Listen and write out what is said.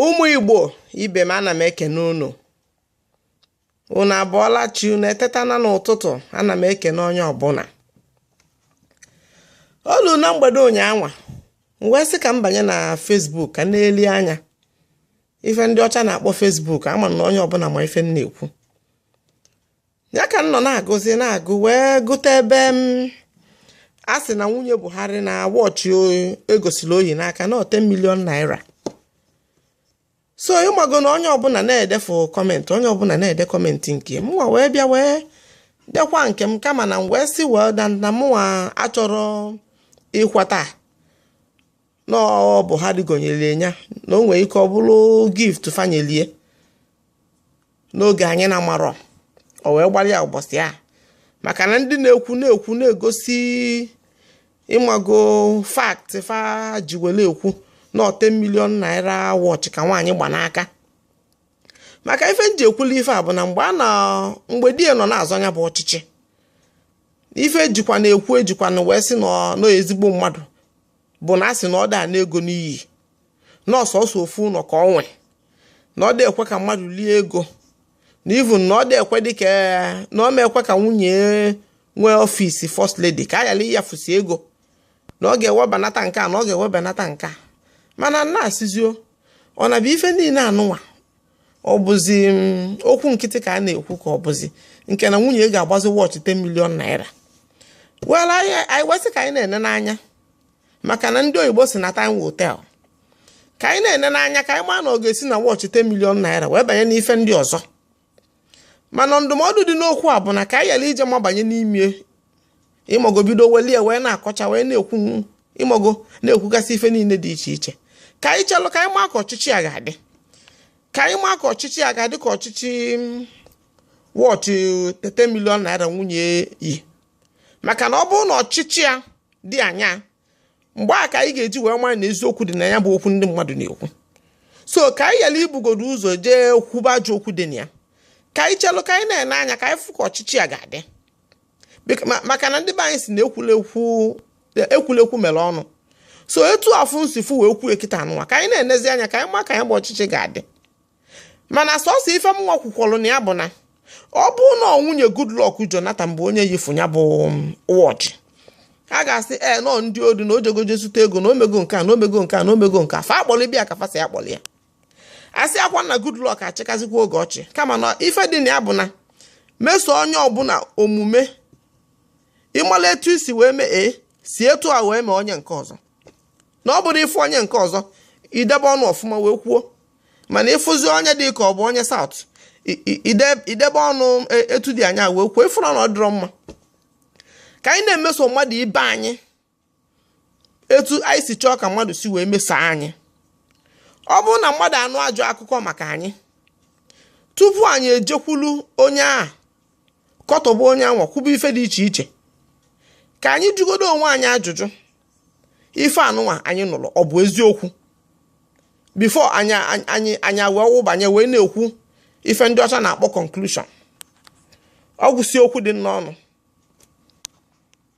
ụmụ igbo ibe m ana m ekene unu unu abụọla chi unu etetana n'ụtụtụ ana m ekene onye ọbụna o lu na mgbede ụnyaahụ m wee sị ka m banye na fesbuk ka m nelie anya ife ndị ọcha na-akpọ fesbuk ama m na onye ọbụna ma ife m na-ekwu ya ka m nọ na-agụzi na-agụ wee gụta ebe m a sị na nwunye Buhari na wọchị egosili o yi n'aka na ọ 10 milion naira so ịmago na onye ọbụna na-edefu kọmentị onye ọbụna na-ede kọmentị nke mụnwa wee bịa wee dekwu nke m kama na m wee sị well na mụnwa achọrọ ịkweta na ọ Buhari gonyere ya na o nwere ike ọ bụrụ gift fa nyelu ya n'oge anyị na-amarọ o wee gbara ya ụbọchị a maka na ndị na-ekwu na-ekwu na-egosi ịmago fakt fa ji were ekwu na ọ 10 milion naira wọchị ka nwaanyị gba n'aka maka ife m ji ekwula ife a bụ na mgbe a na mgbe di ya nọ na-azọ ya bụ ọchịchị ife ejikwa na-ekwu ejikwanụ wee sị na ọ ezigbo mmadụ bụ na a sị na ọ da-ana ego n'iyi na ọ sọsọ ofu ụnọ ka ọ nwe na ọ dị ekwe ka mmadụ lie ego na even na ọ dị ekwe dị ka na ọ ma ekwe ka nwunye nwee ọfịs first lady ka a yala ịyafusi ego na ọ ga-ewebanata nke a na ọ ga-ewebanata nke a mana m na-asịzi o ọ na bụ ife niine anụnwa ọ bụzi mm, okwu nkịtị ka a na-ekwu ka ọ bụzi nke na nwunye ga-agbazi wọchị 10 milion naira well anyị wee sị ka anyị na-ene anya maka na ndị oyibo si na time will tell ka anyị na-ene anya ka anyị maa na ọ ga-esi na wọchị 10 milion naira wee banye n'ife ndị ọzọ mana ndụmọdụ dị n'okwu a bụ na ka anyị yala ije mabanye n'ime ịmago bido welie wee na-akọcha wee na-ekwu ịmago na-ekwugasị ife niile dị iche iche ka anyị chelụ ka anyị maa ka ọchịchị a ga-adị ka anyị maa ka ọchịchị a ga-adị ka ọchịchị mm, wọchị 10 milion naira nwunye yi maka na ọ bụrụ na ọchịchị a dị anya mgbe a ka anyị ga-eji wee mara na eziokwu dị na ya bụ okwu ndị mmadụ na-ekwu so ka anyị yala ibugodu ụzọ jee kwuba ajọ okwu dị na ya ka anyị chelụ ka anyị na-ene anya ka anyị fụ ka ọchịchị a ga-adị maka na ndị be anyị si na ekwulekwu ekwulekwu mere ọnụ so etu afụ nsifu wee kwuo ekita anụwa ka anyị na-enezi anya ka anyị ma ka anyị gba ọchịchị ga-adị mana sọsọ ife m nwakwukwọrọ na ya bụ na ọ bụ na nwunye Goodluck Jonathan bụ onye yifu ya bụ um, wọchị a ga-asị e nọ ndị odi na ojegoje zụta ego na omego nke a na omego nke a na omego nke a fa akpọrọ ibe ya ka fa si akpọrọ ya asị akwa na Goodluck achịkazikwa oge ọ chị kama na ife dị na ya bụ na-emeso onye ọbụla omume ị mala etu i si wee mee e, si etu a wee mee onye nke ọzọ na ọ bụrụ ị fụ onye nke ọzọ i debe ọnụ ọfụma wee kwuo mana ị fụzi onye dị ka ọ bụ onye South i debe ọnụ e, etu dị anya wee kwuo ị fụrụ na ọ dịrọ mma ka anyị na-emeso mmadụ ibe anyị etu anyị si chọọ ka mmadụ si wee meso anyị ọ bụrụ na mmadụ anụ ajọ akụkọ maka anyị tupu anyị ejekwulu onye a katọba onye anwa kwuba ife dị iche iche ka anyị jụgodo onwe anyị ajụjụ ife anụnwa anyị nụrụ ọ bụ eziokwu before anyị anyị anyị wee wụbanye wee na-ekwu ife ndị ọcha na-akpọ conclusion ọ gwụsị okwu dị n'ọnụ